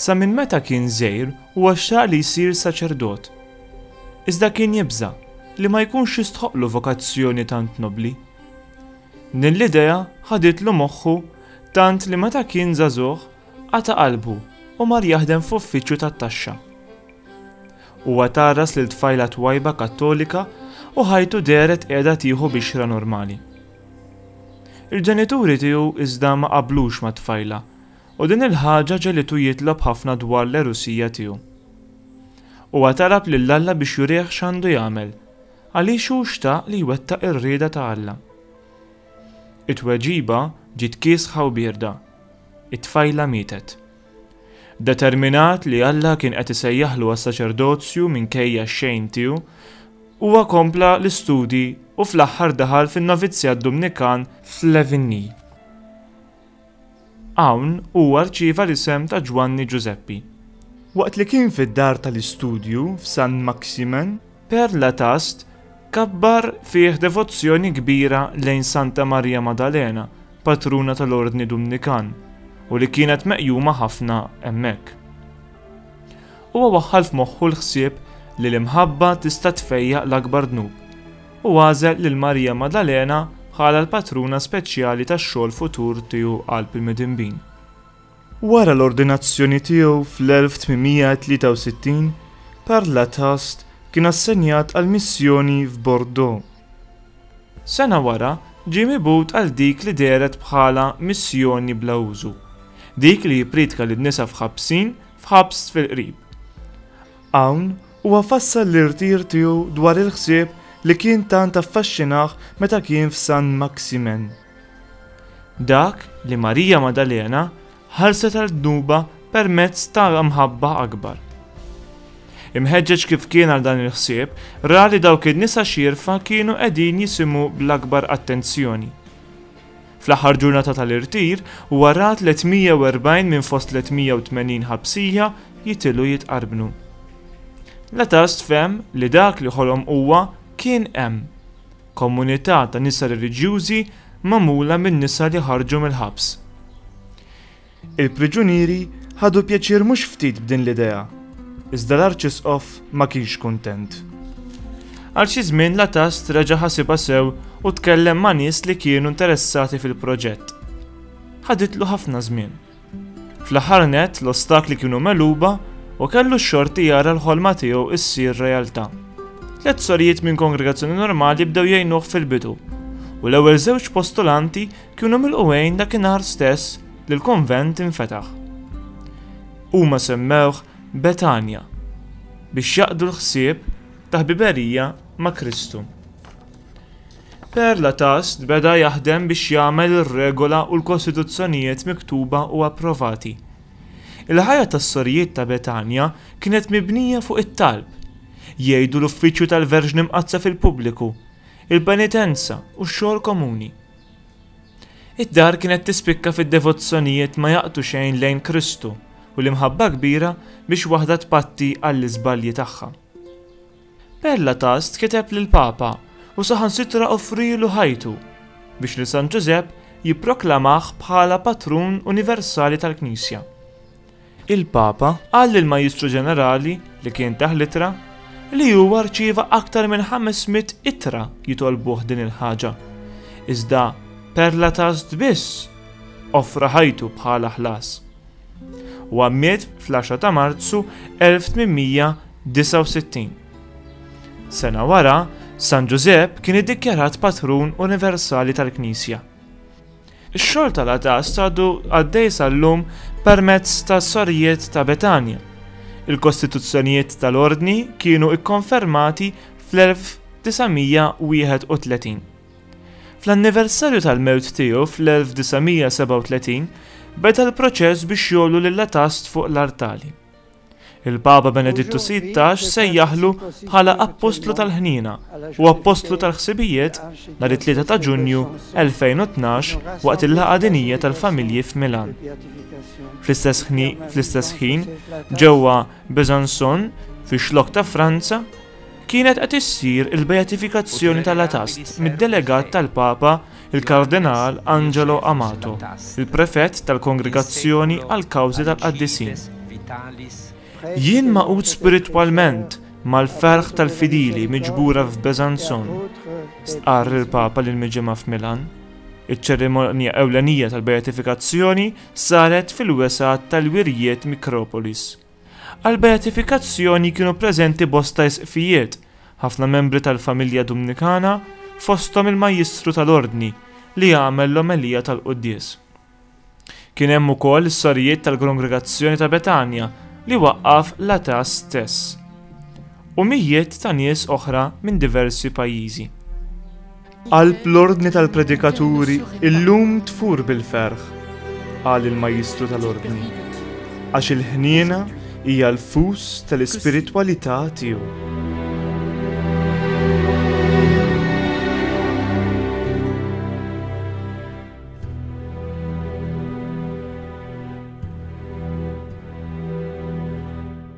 Sa minn meta kien żgħir huwa xtaq li jsir saċerdot. Iżda kien jibża' li ma jkunx jistħoqqlu vokazzjoni tant nobbli. Din l-idea ħaditlu moħħu tant li meta kien żagħżugħ qata' qalbu u mar jaħdem f'uffiċċju tat-taxxa. Huwa tgħarras lil tfajla twajba Kattolika u ħajtu dehret qiegħda tieħu bixra normali. Il-ġenituri tiegħu iżda ma qablux mat-tfajla U din il-ħaġa ġegħlitu jitlob ħafna dwar l-għerusija tiegħu. Huwa talab lil Alla biex jurih x'għandu jagħmel, għaliex hu xtaq li jwettaq ir-rieda ta' Alla. It-tweġiba ġiet kiesħa u bierda, it-tfajla mietet. Determinat li Alla kien qed isejjaħlu għas-saċerdozju minkejja x-xejn tiegħu, huwa kompla l-istudji u fl-aħħar daħal fin-novizzjat Dumnikan f'Levigny. Hawn huwa rċieva l-isem ta' Ġwanni Ġużeppi. Waqt li kien fid-dar tal-istudju f'San Maximen, Père Lataste kabbar fih devozzjoni kbira lejn Santa Marija Maddalena, patruna tal-Ordni Dumnikan, u li kienet meqjuma ħafna hemmhekk. Huwa waħħal f'moħħu l-ħsieb li l-imħabba tista' tfejjaq l-akbar dnub, u għażel lil Marija Maddalena bħala l-patruna speċjali tax-xogħol futur tiegħu qalb il-midinbin. Wara l-ordinazzjoni tiegħu fl-1863, Karl Latast kien assenjat għal missjoni f'Bordeaux. Sena wara, ġie mibgħut għal dik li dehret bħala missjoni bla użu, dik li jippriedka lin-nisa f'ħabsin f'ħabs fil-qrib. Hawn, huwa fassal l-irtir tiegħu dwar il-ħsieb li kien tant affaxxinah meta kien f'San Maximen. Dak li Marija Maddalena ħarset għal dnubha permezz ta' mħabba akbar. Imħeġġeġ kif kien għal dan il-ħsieb, ra li dawk in-nisa xierfa kienu qegħdin jisimgħu bl-akbar attenzjoni. Fl-aħħar ġurnata tal-irtir, huwa ra 340 minn fost 380 ħabsija jitilgħu jitqarbnu. Latast fehem li dak li ħolom huwa kien hemm, komunità ta' nisa reliġjużi magħmula minn nisa li ħarġu mill-ħabs. Il-priġunieri ħadu pjaċir mhux ftit b'din l-idea, iżda l-Arċisqof ma kienx kuntent. Għal xi żmien Latast reġa' ħasibha sew u tkellem ma' nies li kienu interessati fil-proġett. Ħaditlu ħafna żmien. Fl-aħħar nett l-ostakli kienu megħluba u kellu x-xorti jara l-ħolma tiegħu ssir realtà. Tliet sorijiet minn kongregazzjoni normali bdew jgħinuh fil-bidu, u l-ewwel żewġ postulanti Kienu milqugħin dakinhar stess li l-konvent infetaħ. Huma semmewh Betanja biex jaqdu l-ħsieb ta' ħbiberija ma' Kristu. Per Latast beda jaħdem biex jagħmel ir-regola u l-kostituzzjonijiet miktuba u approvati. Il-ħajja tas-sorijiet ta' Betanja kienet mibnija fuq it-talb, jgħidu l-uffiċċju tal-Verġni Mqaddsa fil-pubbliku, il-penitenza u x-xogħol komuni. Id-dar kienet tispikka fid-devozzjonijiet ma jaqtu xejn lejn Kristu u l-imħabba kbira biex waħda tpatti għall-iżbalji tagħha. Perla Tast kiteb lill-Papa u saħansitra offrielu ħajtu biex lil San Ġużepp jipproklamah bħala patrun universali tal-Knisja. il-Papa qal lill-Majjistru Ġenerali, li kien tah l-ittra, li huwa rċieva aktar minn 500 ittra jitolbuh din il-ħaġa, iżda per Latast biss offra ħajtu bħala ħlas. Huwa miet fl-10 ta' Marzu 1869. Sena wara, San Ġużepp kien iddikjarat patrun universali tal-Knisja. Ix-xogħol tal-għatast għadu għaddej sal-lum permezz tas-Sorijiet ta' Betanja. Il-kostituzzjonijiet tal-Ordni kienu ikkonfermati fl-1931. Fl-anniversarju tal-mewt tiegħu fl-1937 beda l-proċess biex jgħollu lill-għatast fuq l-artali. Il-Papa Benedittu Sittax sejjaħlu bħala Appostlu tal-Ħniena u Appostlu tal-Ħsibijiet nhar it-3 ta' Ġunju 2012 waqt il-Laqgħa Dinjija tal-Familji f'Milan. Fl-istess ħin, ġewwa Besançon, fix-xlokk ta' Franza, kienet qed issir il-beatifikazzjoni tal-Atast mid-delegat tal-Papa il-Kardinal Angelo Amato, il-Prefett tal-Kongregazzjoni għall-Kawżi tal-Qaddisin. Jien maqud spiritwalment mal-ferħ tal-fidili miġbura f'Besanzon, stqarr il-Papa lil miġimgħa f'Milan. Iċ-ċerimonja ewlenija tal-beatifikazzjoni saret fil-wesgħat tal-wirjiet Mikropolis. Għall-beatifikazzjoni kienu preżenti bosta Isqfijiet, ħafna membri tal-familja Dumnikana, fosthom il-Majjistru tal-Ordni li għamel l-omelija tal-quddies. Kien hemm ukoll is-sorijiet tal-Grongregazzjoni ta' Betanja li waqqaf l-ATAS stess u mijiet ta' nies oħra minn diversi pajjiżi. Qalb l-Ordni tal-Predikaturi illum tfur bil-ferħ, qal il-Majjistru tal-Ordni, għax il-ħniena hija l-fus tal-ispiritwalità tiegħu.